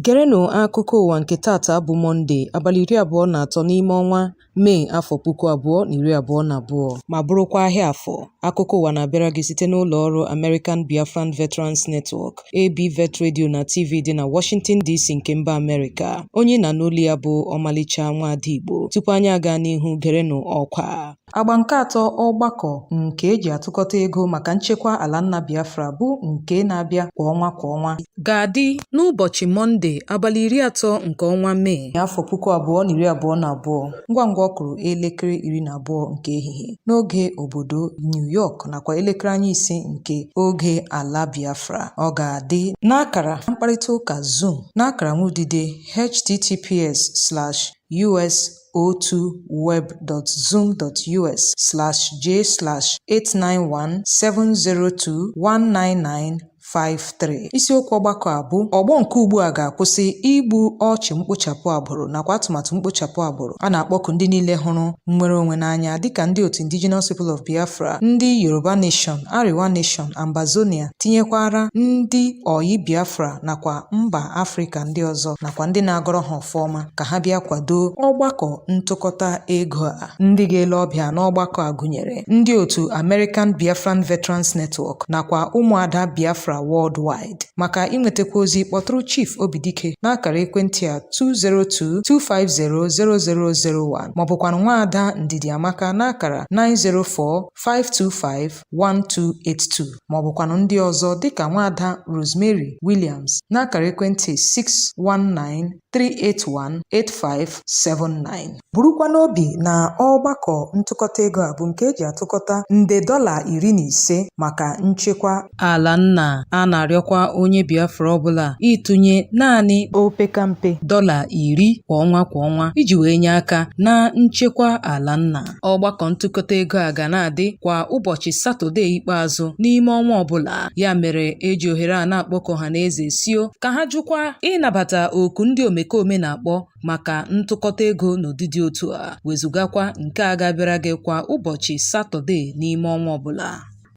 Gerenụ akụkọ ụwa nke taata bụ Mọnde, abalị iri abụọ na atọ n'ime ọnwa Mee afọ puku abụọ na iri abụọ na abụọ, ma bụrụkwa ahịa afọ. Akụkọ ụwa na-abịara gị site n'ụlọ ọrụ American Biafran Veterans Network, ABVET Radio na TV dị na Washington DC nke mba Amerịka. Onye ị na-anụ olu ya bụ ọmalịcha nwaada Igbo. Tupu anyị aga n'ihu gerenụ ọkwa. Agba nke atọ ọgbakọ nke eji atụkọta ego maka nchekwa ala nna Biafra bụ nke na-abịa kwa ọnwa kwa ọnwa ga-adị n'ụbọchị Mọnde abalị iri atọ nke ọnwa Mee afọ puku abụọ na iri abụọ na abụọ. ngwa ngwa ọ kụrụ elekere iri na abụọ nke ehihie n'oge obodo New York nakwa elekere anya ise nke oge ala Biafra ọ ga-adị n'akara mkparịta ụka Zoom n'akara nwudide https slash us o2 web.zoom.us/j/891702199 53 isiokwu ọgbakọ a bụ ọgbọ nke ugbu a ga-akwụsị igbu ọchụ mkpochapụ agbụrụ nakwa atụmatụ mkpochapụ agbụrụ a na-akpọku ndị niile hụrụ nnwere onwe n'anya dịka ndị otu Indigenous People of Biafra ndị Yoruba Nation Arewa Nation Ambazonia tinyekwara ndị ọyị Biafra nakwa mba Afrịka ndị ọzọ nakwa ndị na-agọrọ ha ọfọ ọma ka ha bịa kwado ọgbakọ ntụkọta ego a Ndị ga-ele ọbịa n'ọgbakọ a gụnyere ndị otu American Biafran Veterans Network nakwa ụmụada Biafra Worldwide. Maka inwetakwa ozi kpọtụrụ Chief Obidike n'akara ekwentị a 202-250-0001 maọbụkwanụ nwaada Ndidiamaka n'akara 904-525-1282 maọbụkwanụ ndị ọzọ dịka nwaada Rosemary Williams n'akara ekwentị 619 3818579 burukwa n'obi na ọgbakọ ntụkọta ego a bụ nke eji atụkọta nde dọla iri na ise maka nchekwa ala nna a na-arịọkwa onye Biafra ọbụla ịtụnye naanị opekampe dọla iri kwa ọnwa kwa ọnwa iji wee nye aka na nchekwa ala nna Ọgbakọ ntụkọta ego a ga na-adị kwa ụbọchị Satọde ikpeazụ n'ime ọnwa ọbụla. Ya mere eji ohere a na-akpọku ọhaneze sio ka ha jụkwa ịnabata oku ndị omekome na-akpọ maka ntụkọta ego n'ụdị dị otu a, wezugakwa nke a ga-abịara gị kwa ụbọchị Satọde n'ime ọnwa ọbụla.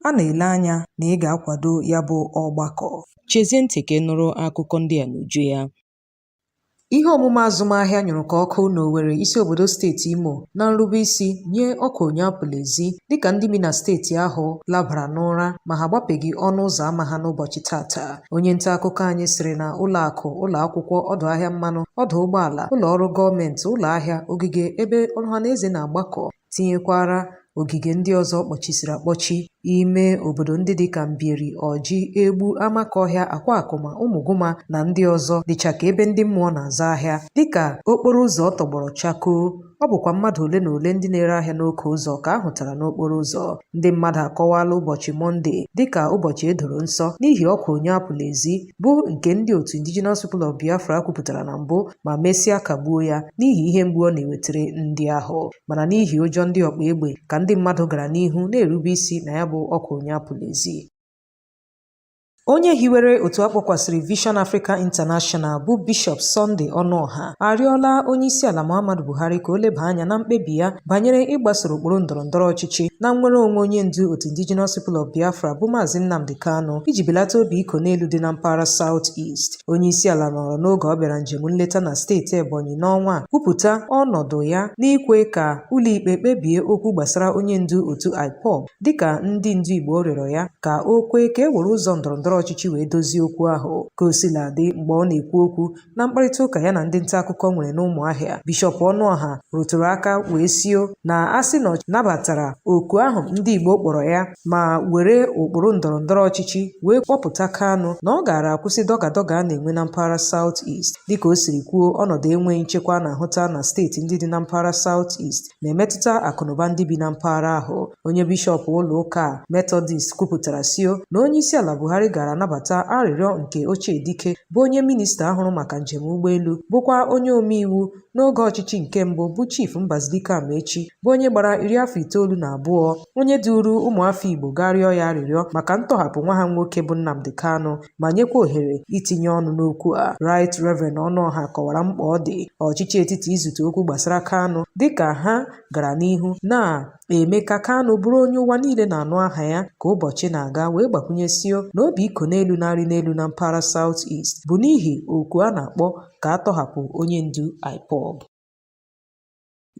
A na-ele anya na ị ga-akwado ya bụ ọgbakọ. Chezie ntị ka ị nụrụ akụkọ ndị a n'uju ya. Ihe omume azụmahịa nyụrụ ka ọkụ n'Owere isi obodo steeti Imo na nrubeisi nye ọkwa onye apụla ezi dịka ndị bi na steeti ahụ labara n'ụra ma ha agbapeghị ọnụ ụzọ ama ha n'ụbọchị tata. Onye nta akụkọ anyị sịrị na ụlọ akụ, ụlọ akwụkwọ, ọdụ ahịa mmanụ, ọdụ ụgbọala, ụlọ ọrụ gọọmenti, ụlọ ahịa, ogige ebe ọha na eze na-agbakọ tinyekwara ogige ndị ọzọ kpọchisiri akpọchi ime obodo ndị dịka Mbieri, Ọjị, Egbu, Amakọhịa, Akwakụma, Ụmụgụma na ndị ọzọ dịcha ka ebe ndị mmụọ na-azụ ahịa dịka okporo ụzọ tọgbọrọ chakoo ọ bụkwa mmadụ ole na ole ndị na-ere ahịa n'oke ụzọ ka a hụtara n'okporo ụzọ ndị mmadụ akọwala ụbọchị Mọnde dịka ụbọchị e doro nsọ n'ihi ọkwa onye apụla ezi bụ nke ndị otu Indigenous People of Biafra kwupụtara na mbụ ma mesịa kagbuo ya n'ihi ihe mgbu ọ na-ewetara ndị ahụ mana n'ihi ụjọ ndị ọkpa egbe ka ndị mmadụ gara n'ihu na-erube isi na ya bụ ọkwa onye apụla ezi Onye hiwere otu akpọkwasịrị Vision Africa International bụ Bishọp Sunday Ọnụọha arịọla onyeisiala Muhammadu Buhari ka o leba anya na mkpebi ya banyere ịgbasoro ụkpụrụ ndọrọ ndọrọ ọchịchị na nnwere onwe onye ndu otu Indigenous People of Biafra bụ Maazị Nnamdi Kanu iji belata obi iko n'elu dị na mpaghara South East. Onye isi ala nọrọ n'oge ọ bịara njem nleta na steeti Ebonyi n'ọnwa a kwupụta ọnọdụ ya n'ikwe ka ụlọikpe kpebie okwu gbasara onye ndu otu IPOB dịka ndị ndu Igbo rịọrọ ya ka o kwee ka e were ụzọ ndọrọ ndọrọ ọchịchị wee dozie okwu ahụ. Ka o sila dị mgbe ọ na-ekwu okwu na mkparịta ụka ya na ndị nta akụkọ nwere n'ụmụahịa bishọp ọnụọha rụtụrụ aka wee sio na a sị na ọ nabatara oku ahụ ndị igbo kpọrọ ya ma were ụkpụrụ ndọrọ ndọrọ ọchịchị wee kpọpụta Kanu na ọ gaara akwụsị dọgadọga a na-enwe na mpaghara South East dịka o siri kwuo ọnọdụ enweghị nchekwa a na-ahụta na steeti ndị dị na mpaghara South East na-emetụta akụnụba ndị bi na mpaghara ahụ onye bishọp ụlọ ụka metọdist kwupụtara sio na onye isi ala buhari gaara anabata arịrịọ nke ochie dike bụ onye minista hụrụ maka njem ụgbọelu bụkwa onye omeiwu n'oge ọchịchị nke mbụ bụ chief mbazulike amaechi bụ onye gbara iri afọ itoolu na abụọ onye duru ụmụafọ igbo gaa rịọ ya arịrịọ maka ntọhapụ nwa ha nwoke bụ Nnamdi Kanu ma nyekwa ohere itinye ọnụ n'okwu a Right Reverend Ọnụọha kọwara mkpa ọ dị ọchịchị etiti izute okwu gbasara Kanu dịka ha gara n'ihu na-eme ka Kanu bụrụ onye ụwa niile na-anụ aha ya ka ụbọchị na-aga wee gbakwụnye sio na obi iko n'elu na-arị n'elu na mpaghara South East bụ n'ihi oku a na-akpọ ka a tọhapụ onye ndu IPOB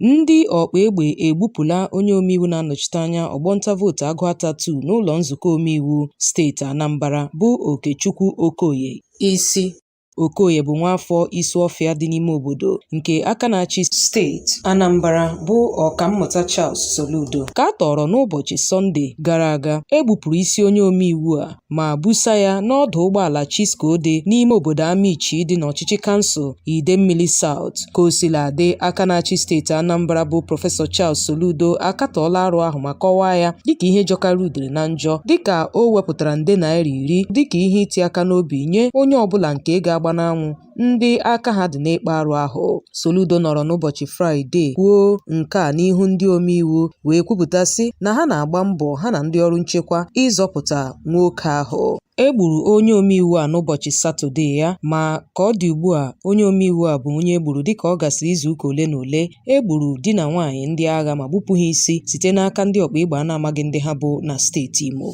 Ndị ọkpa egbe egbupụla onye omeiwu na-anọchite anya ọgbọ nta vootu Agụata 2 n'ụlọ nzukọ omeiwu steeti Anambra bụ Okechukwu Okoye isi. Okoye bụ nwaafọ Isuọfịa dị n'ime obodo nke aka na-achị steeti Anambra bụ Ọkammụta Charles Soludo ka a tọọrọ n'ụbọchị Sọnde gara aga. E gbupụrụ isi onye omeiwu a ma busa ya n'ọdụ ụgbọala Chisco dị n'ime obodo Amichi dị n'ọchịchị kansụl Idemmili South. Ka o sila dị, aka na-achị steeti Anambra bụ Prọfesọ Charles Soludo akatọọla arụ ahụ ma kọwaa ya dịka ihe jọkara udere na njọ dịka o wepụtara nde naira iri dịka ihe iti aka n'obi nye onye ọbụla nke ga-agba n'anwụ ndị aka ha dị n'ịkpa arụ ahụ. Soludo nọrọ n'ụbọchị Fraịde kwuo nke a n'ihu ndị omeiwu wee kwupụta sị na ha na-agba mbọ ha na ndị ọrụ nchekwa ịzọpụta nwoke ahụ. E gburu onye omeiwu a n'ụbọchị Satọde ya ma ka ọ dị ugbu a onye omeiwu a bụ onye e gburu dịka ọ gasịrị izuụka ole na ole e gburu di na nwaanyị ndị agha ma gbupụ ha isi site n'aka ndị ọkpa egbe a na-amaghị ndị ha bụ na steeti Imo.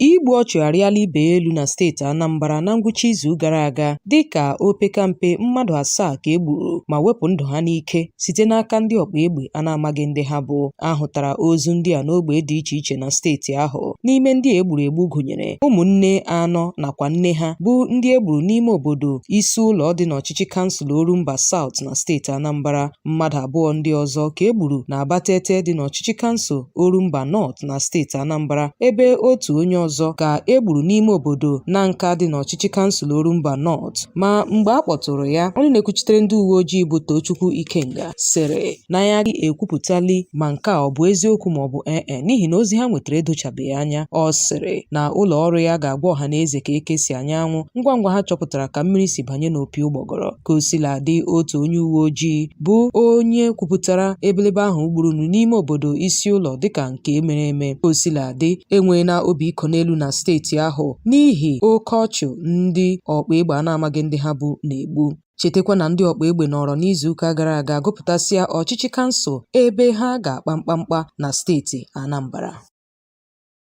Igbu ọchụ arịala ibe ya elu na steeti Anambra na ngwụcha izu gara aga dịka opekampe mmadụ asaa ka e gburu ma wepụ ndụ ha n'ike site n'aka ndị ọkpa egbe a na-amaghị ndị ha bụ. A hụtara ozu ndị a n'ogbe dị iche iche na steeti ahụ. N'ime ndị a e gburu egbu gụnyere ụmụnne anọ nakwa nne ha bụ ndị e gburu n'ime obodo Isulo dị n'ọchịchị kansụl Orumba South na steeti Anambra. Mmadụ abụọ ndị ọzọ ka e gburu na Abatete dị n'ọchịchị kansụl Orumba North. na steeti Anambra ebe otu onye ọzọ ka e gburu n'ime obodo Nanka dị n'ọchịchị kansụl Orumba North ma mgbe a kpọtụrụ ya onye na-ekwuchitere ndị uwe ojii bụ Tochukwu Ikenga sịrị na ya agaghị ekwupụtali ma nke a ọ bụ eziokwu ma ọ bụ ee e, n'ihi na ozi ha nwetara edochabeghị anya ọ sịrị na ụlọ ọrụ ya ga-agwa ọha na eze ka eke si anya anwụ ngwa ngwa ha chọpụtara ka mmiri si banye n'opi ụgbọgọrọ ka o sila dị otu onye uwe ojii bụ onye kwupụtara ebelebe ahụ gburunu n'ime obodo Isulo dịka nke mere eme ka o sila dị enweela obi ịkọ n'elu na steeti ahụ n'ihi oke ọchụ ndị ọkpa egbe a na-amaghị ndị ha bụ na-egbu chetakwa na ndị ọkpa egbe nọrọ n'izuụka gara aga gụpụtasịa ọchịchị kansụl ebe ha ga-akpa mkpamkpa na steeti Anambra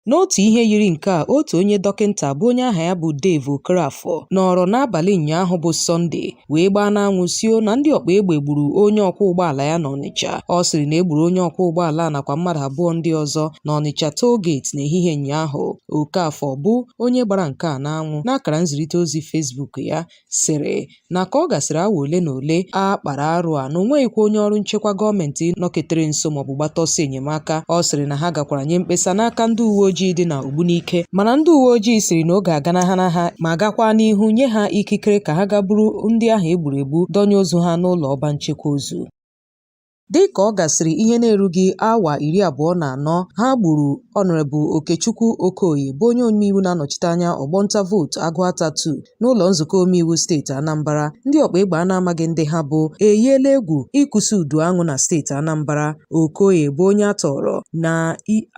N'otu ihe yiri nke a, otu onye dọkịnta bụ onye aha ya bụ Dave Okoroafor nọrọ n'abalị ụnyaahụ bụ Sọnde wee gbaa n'anwụ sị o na ndị ọkpa egbe gburu onye ọkwọ ụgbọala ya n'Ọnịcha. Ọ sịrị na e gburu onye ọkwọ ụgbọala a nakwa mmadụ abụọ ndị ọzọ n'Ọnịcha toll gate n'ehihie ụnyaahụ. Okafor bụ onye gbara nke a n'anwụ n'akara nzirịta ozi Facebook ya sịrị na ka ọ gasịrị awa ole na ole a kpara arụ a na o nweghịkwa onye ọrụ nchekwa gọọmenti nọketere nso maọbụ gbata ọsọ enyemaka ọ sịrị na ha gakwara nye mkpesa n'aka ndị uwe ojii dị na Ogbunike mana ndị uwe ojii sịrị na oge aganahana ha ma gakwa n'ihu nye ha ikikere ka ha ga buru ndị ahụ egburu egbu dọnye ozu ha n'ụlọ ọba nchekwa ozu Dị ka ọ gasịrị ihe na-erughị awa iri abụọ na anọ ha gburu Ọnọrebụ Okechukwu Okoye bụ onye omeiwu na-anọchite anya ọgbọ nta vootu Agụata 2 n'ụlọ nzukọ omeiwu steeti Anambra, ndị ọkpa egbe a na-amaghị ndị ha bụ eyiela egwu ịkụsi udu aṅụ na steeti Anambra. Okoye bụ onye a tọọrọ na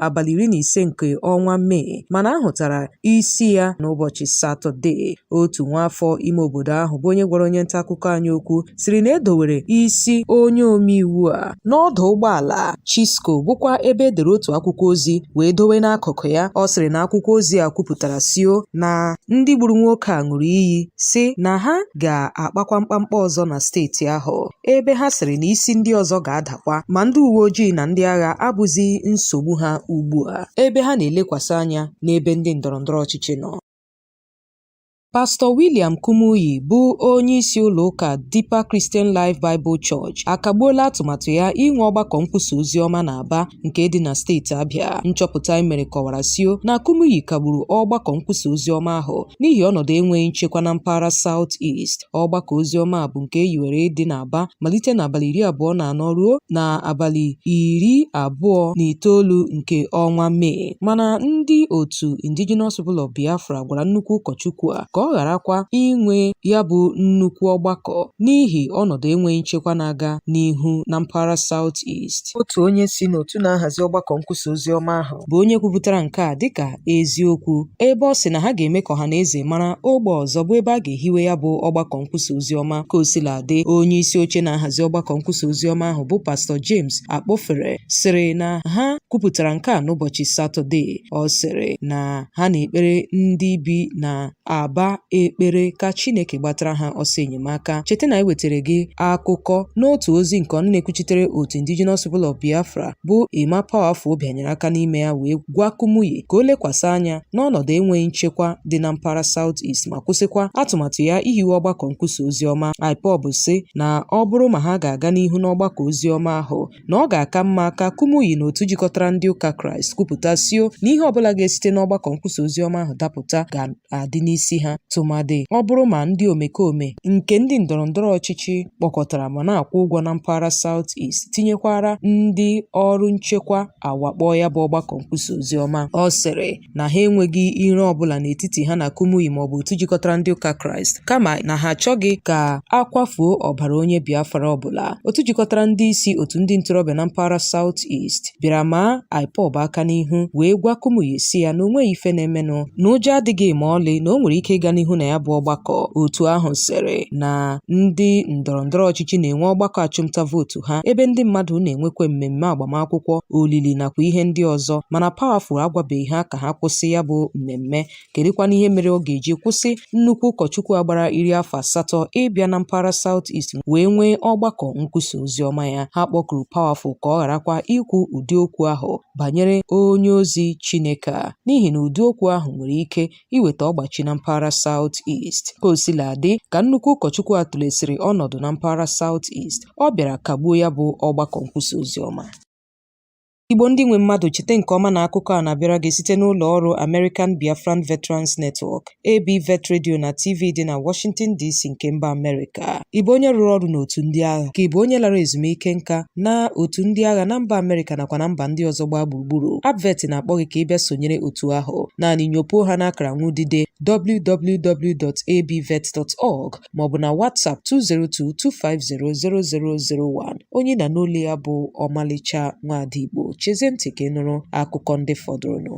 abalị iri na ise nke ọnwa Mee mana a hụtara isi ya n'ụbọchị Satọde. otu nwaafọ ime obodo ahụ bụ onye gwara onye nta akụkọ anyị okwu sịrị na e dowere isi onye omeiwu a n'ọdụ ụgbọala Chisco bụkwa ebe e dere otu akwụkwọ ozi wee dowe n'akụkụ ya ọ sịrị na akwụkwọ ozi a kwupụtara sio na ndị gburu nwoke a ṅụrụ iyi sị na ha ga-akpakwa mkpamkpa ọzọ na steeti ahụ ebe ha sịrị na isi ndị ọzọ ga-adakwa ma ndị uwe ojii na ndị agha abụzi nsogbu ha ugbu a ebe ha na-elekwasị anya n'ebe ndị ndọrọndọrọ ọchịchị nọ Pastọ William Kumuyi bụ onye isi ụlọ ụka Deeper Christian Life Bible Church akagbuola atụmatụ ya inwe ọgbakọ nkwusa ozi ọma na Aba nke dị na steeti Abịa. Nchọpụta e mere kọwara sio na Kumuyi kagburu ọgbakọ nkwusa ozi ọma ahụ n'ihi ọnọdụ enweghị nchekwa na mpaghara South East. Ọgbakọ ozi ọma a bụ nke e yiwere ịdị na Aba malite n'abalị iri abụọ na anọ ruo na abalị iri abụọ na itoolu nke ọnwa Mee. Mana ndị otu Indigenous People of Biafra gwara nnukwu ụkọchukwu a ka ọ gharakwa inwe ya bụ nnukwu ọgbakọ n'ihi ọnọdụ enweghị nchekwa na-aga n'ihu na mpaghara South East. Otu onye si n'otu na-ahazi ọgbakọ nkwusa ozi ọma ahụ bụ onye kwupụtara nke a dịka eziokwu ebe ọ sị na ha ga-eme ka ọha na eze mara ogbe ọzọ bụ ebe a ga-ehiwe ya bụ ọgbakọ nkwusa ozi ọma ka o sila dị onye isi oche na-ahazi ọgbakọ nkwusa ozi ọma ahụ bụ pastọ James Akpofure sịrị na ha kwupụtara nke a n'ụbọchị Satọde. Ọ sịrị na ha na-ekpere ndị bi na Aba ekpere ka Chineke gbatara ha ọsọ enyemaka. Cheta na anyị wetara gị akụkọ n'otu ozi nke ọnụ na-ekwuchitere otu Indigenous People of Biafra bụ Emma Powerful bịanyere aka n'ime ya wee gwa Kumuyi ka o lekwasị anya n'ọnọdụ enweghị nchekwa dị na mpaghara South East ma kwụsịkwa atụmatụ ya ihiwe ọgbakọ nkwusa ozi ọma ahụ. IPOB sị na ọ bụrụ ma ha ga-aga n'ihu n'ọgbakọ ozi ọma ahụ na ọ ga-aka mma ka Kumuyi na otu jikọtara ndị ụka Kraịst kwupụta sio na ihe ọbụla ga-esite n'ọgbakọ nkwusa ozi ọma ahụ dapụta ga-adị n'isi ha tụmadị ọ bụrụ ma ndị omekome nke ndị ndọrọndọrọ ọchịchị kpọkọtara ma na-akwụ ụgwọ na mpaghara South East tinyekwara ndị ọrụ nchekwa awakpoo ya bụ ọgbakọ nkwusa ozi ọma. Ọ sịrị na ha enweghị iro ọ bụla n'etiti ha na Kumuyi maọbụ otu jikọtara ndị ụka Kraịst kama na ha achọghị ka a kwafuo ọbara onye Biafra ọbụla. Otu jikọtara ndị isi otu ndị ntorobịa na mpaghara South East bịara maa IPOB aka n'ihu wee gwa Kumuyi sị ya na o nweghị ife na-emenụ na ụjọ adịghị ma ọlị na o nwere ike ịga n'ihu na ya bụ ọgbakọ. Otu ahụ sịrị na ndị ndọrọndọrọ ọchịchị na-enwe ọgbakọ achụmnta vootu vootu ha ebe ndị mmadụ na-enwekwa mmemme agbamakwụkwọ, olili nakwa ihe ndị ọzọ mana Powerful agwabeghị ha ka ha kwụsị ya bụ mmemme. Kedụkwanụ ihe mere ọ ga-eji kwụsị nnukwu ụkọchukwu a gbara iri afọ asatọ ịbịa na mpaghara South East wee nwee ọgbakọ nkwusa oziọma ya? Ha kpọkuru Powerful ka ọ gharakwa ikwu ụdị okwu ahụ banyere onye ozi Chineke a n'ihi na ụdị okwu ahụ nwere ike iweta ọgbachi na mpaghara South East. Ka o sila dị, ka nnukwu ụkọchukwu a tụlesịrị ọnọdụ na mpaghara South East, ọ bịara kagbuo ya bụ ọgbakọ nkwusa ozi ọma. Igbo ndị nwe mmadụ chete nke ọma na akụkọ a na-abịara gị site n'ụlọ ọrụ American Biafran Veterans Network, ABVET Radio na TV dị na Washington DC nke mba Amerịka. Ị bụ onye rụrụ ọrụ n'otu ndị agha? Ka ị bụ onye lara ezumike nka n'otu ndị agha na mba Amerịka nakwa na mba ndị ọzọ gbaa gburugburu? ABVET na-akpọ gị ka ị bịa sonyere otu ahụ. Naanị nyopuo ha n'akara nwudide www.abvet.org maọbụ na WhatsApp 202-250-0001. Onye ị na-anụ olu ya bụ Ọmalịcha Nwada Igbo. Chezie ntị ka ị nụrụ akụkọ ndị fọdụrụnụ.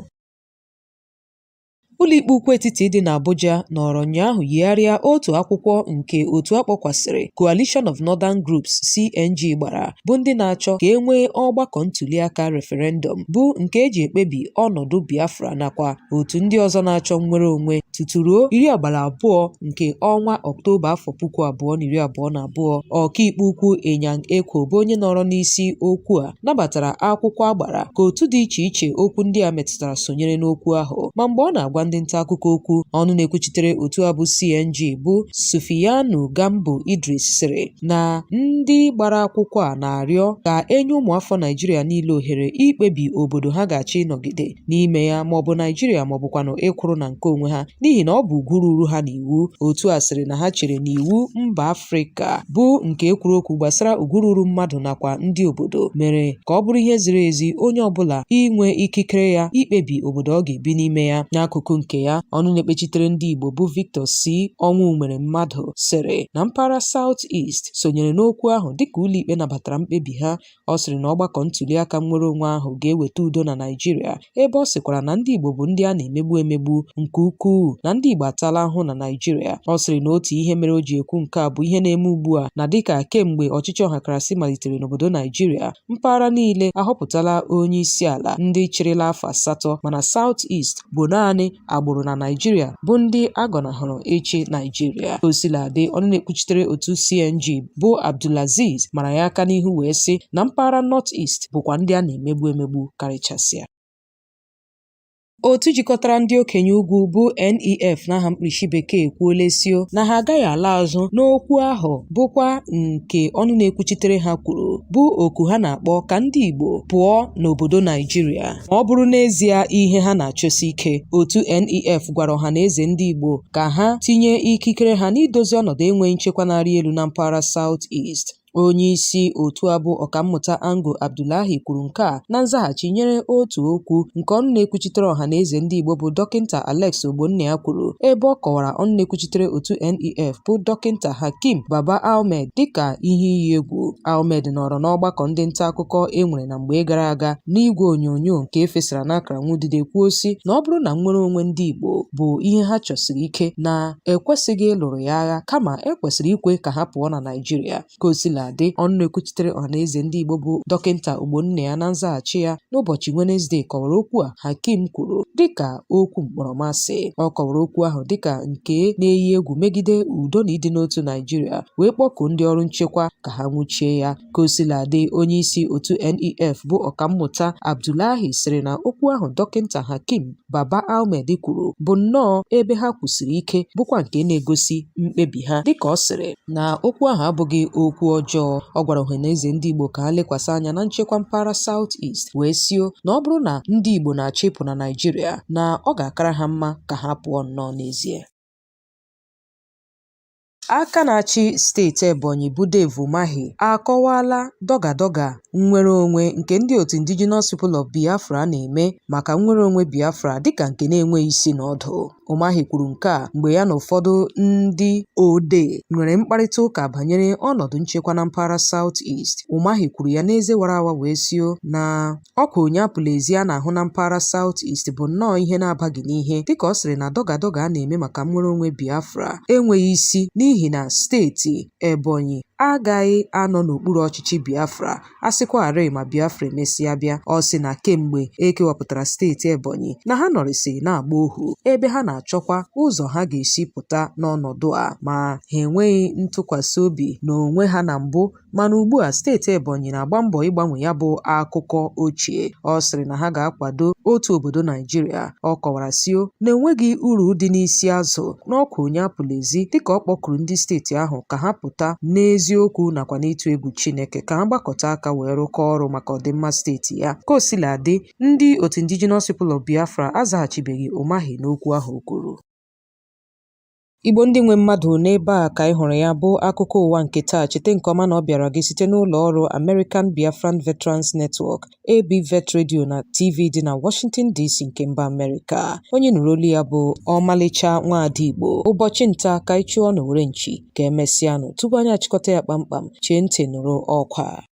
Ụlọikpe Ukwu Etiti dị n'Abuja nọrọ ụnyaahụ yigharịa otu akwụkwọ nke otu a kpọkwasịrị Coalition of Northern Groups (CNG) gbara, bụ ndị na-achọ ka e nwee ọgbakọ ntuliaka referendum, bụ nke e ji ekpebi ọnọdụ Biafra nakwa otu ndị ọzọ na-achọ nnwere onwe, tutu ruo iri abalị abụọ nke ọnwa Ọktoba afọ puku abụọ na iri abụọ na abụọ. Ọkaikpe ukwu Inyang Ekwo bụ onye nọrọ n'isi okwu a nabatara akwụkwọ a gbara ka otu dị iche iche okwu ndị a metụtara sonyere n'okwu ahụ ma mgbe ọ na-agwa ndị nta akụkọ okwu ọnụ na-ekwuchitere otu a bụ CNG bụ Sufiyanu Gambo Idris sịrị na ndị gbara akwụkwọ a na-arịọ ka e nye ụmụafọ Naijiria niile ohere ikpebi obodo ha ga-achọ ịnọgide n'ime ya ma ọ bụ Naijiria ma ọ bụkwanụ ịkwụrụ na nke onwe ha n'ihi na ọ bụ ugwu ruru ha n'iwu otu a sịrị na ha chere na iwu mba Afrịka bụ nke e kwuru okwu gbasara ugwu ruru mmadụ nakwa ndị obodo mere ka ọ bụrụ ihe ziri ezi onye ọbụla inwe ikikere ya ikpebi obodo ọ ga-ebi n'ime ya n'akụkụ nke ya ọnụ na-ekpechitere ndị Igbo bụ Victor C. Ọnwụnweremmadụ sịrị na mpaghara South East sonyere n'okwu ahụ dịka ụlọikpe nabatara mkpebi ha Ọ sịrị na ọgbakọ ntuliaka nnwere onwe ahụ ga-eweta udo na Naịjirịa ebe ọ sịkwara na ndị Igbo bụ ndị a na-emegbu emegbu nke ukwuu na ndị Igbo atala ahụ na Naịjirịa. Ọ sịrị na otu ihe mere o ji ekwu nke a bụ ihe na-eme ugbu a na dịka kemgbe ọchịchị ọhakarasị malitere n'obodo Naịjirịa, mpaghara niile ahọpụtala onye isi ala ndị chịrịla afọ asatọ mana South East bụ naanị agbụrụ na Naịjirịa bụ ndị a gọnahụrụ ịchị Naịjirịa. O sila dị, ọnụ na-ekwuchitere otu CNG bụ Abdulaziz mara ya aka n'ihu wee sị na mpaghara North East bụkwa ndị a na-emegbu emegbu karịchasịa. Otu jikọtara ndị okenye ugwu bụ NEF n'aha mkpirisi bekee ekwuola sio na ha agaghị ala azụ n'okwu ahụ bụkwa nke ọnụ na-ekwuchitere ha kwuru bụ oku ha na-akpọ ka ndị Igbo pụọ n'obodo Naịjirịa. ma ọ bụrụ n'ezie ihe ha na-achọsi ike. Otu NEF gwara ọhaneze ndị Igbo ka ha tinye ikikere ha n'idozi ọnọdụ enweghị nchekwa na-arị elu na mpaghara South East. Onyeisi otu a bụ Ọkammụta Ango Abdullahi kwuru nke a na nzaghachi nyere otu okwu nke ọnụ na-ekwuchitere ọhaneze ndị Igbo bụ Dọkịnta Alex Ogbonnaya kwuru ebe ọ kọwara ọnụ na-ekwuchitere otu NEF bụ Dọkịnta Hakeem Baba Ahmed dịka ihe iyi egwu. Ahmed nọrọ n'ọgbakọ ndị nta akụkọ e nwere na mgbe gara aga n'igwe onyonyo nke e fesara n'akara nwudide kwuo sị na ọ bụrụ na nnwere onwe ndị Igbo bụ ihe ha chọsiri ike na e kwesịghị ịlụrụ ya agha kama e kwesịrị ikwe ka ha pụọ na Naịjirịa ka o sila dị ọnụ na-ekwuchitere ọhaneze ndị Igbo bụ dọkịnta Ogbonnaya na nzaghachi ya n'ụbọchị Wenezdee kọwara okwu a Hakeem kwuru dịka okwu mkpọrọmasị ọ kọwara okwu ahụ dịka nke na-eyi egwu megide udo na ịdị n'otu Naịjirịa wee kpọkuo ndị ọrụ nchekwa ka ha nwụchie ya Ka o sila dị, onyeisi otu NEF bụ Ọkammụta Abdullahi sịrị na okwu ahụ Dọkịnta Hakeem Baba Ahmed kwuru bụ nnọọ ebe ha kwụsiri ike bụkwa nke na-egosi mkpebi ha dịka ọ sịrị na okwu ahụ abụghị okwu ọjọọ ọ gwara ọhaneze ndị Igbo ka ha lekwasị anya na nchekwa mpaghara South East wee sio na ọ bụrụ na ndị Igbo na-achọ ịpụ na Naịjirịa na ọ ga-akara ha mma ka ha pụọ nnọọ n'ezie Aka na-achị steeti Ebonyi bụ Dave Umahi akọwaala dọga-dọga nnwereonwe nke ndị otu Indigenous People of Biafra na-eme maka nnwereonwe Biafra dịka nke na-enweghị isi na ọdụ. Umahi kwuru nke a mgbe ya na ụfọdụ ndị odee nwere mkparịta ụka banyere ọnọdụ nchekwa na mpaghara South East. Umahi kwuru ya n'eze wara awa wee sio na Ọkwa onye apụla ezi a na-ahụ na mpaghara South East bụ nnọọ ihe na-abaghị n'ihe dịka ọ sịrị na dọgadọga a na-eme maka nnwere onwe Biafra enweghị isi n'ihi na steeti Ebonyi agaghị anọ n'okpuru ọchịchị Biafra a sịkwarị ma Biafra emesịa bịa. Ọ sị na kemgbe e kewapụtara steeti Ebonyi na ha nọrịsị na-agba ohu ebe ha na-achọkwa ụzọ ha ga-esi pụta n'ọnọdụ a ma ha enweghị ntụkwasị obi n'onwe ha na mbụ Mana ugbua, steeti Ebonyi na-agba mbọ ịgbanwe ya bụ akụkọ ochie. Ọ sịrị na ha ga-akwado otu obodo Naijiria. Ọ kọwara sị na enweghị uru dị n'isi azụ n'ọkwa onye apụla ezi dịka ọ kpọkuru ndị steeti ahụ ka ha pụta n'eziokwu nakwa n'ịtụ egwu Chineke ka ha gbakọta aka wee rụkọọ ọrụ maka ọdịmma steeti ya. Ka o sila dị, ndị otu Indigenous People of Biafra azaghachibeghị Umahi n'okwu ahụ o kwuru. Igbo ndị nwe mmadụ n'ebe a ka anyị hụrụ ya bụ akụkọ ụwa nke taa cheta nke ọma na ọ bịara gị site n'ụlọ ọrụ American Biafran Veterans Network ABVET Radio na TV dị na Washington DC nke mba Amerịka onye ị nụrụ olu ya bụ ọmalịcha nwaada Igbo ụbọchị nta ka anyị chụọ n'owere nchi ka emesịanụ tupu anyị achịkọta ya kpamkpam chee ntị nụrụ ọkwa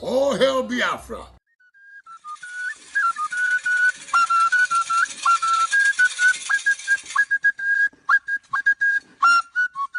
All hail Biafra!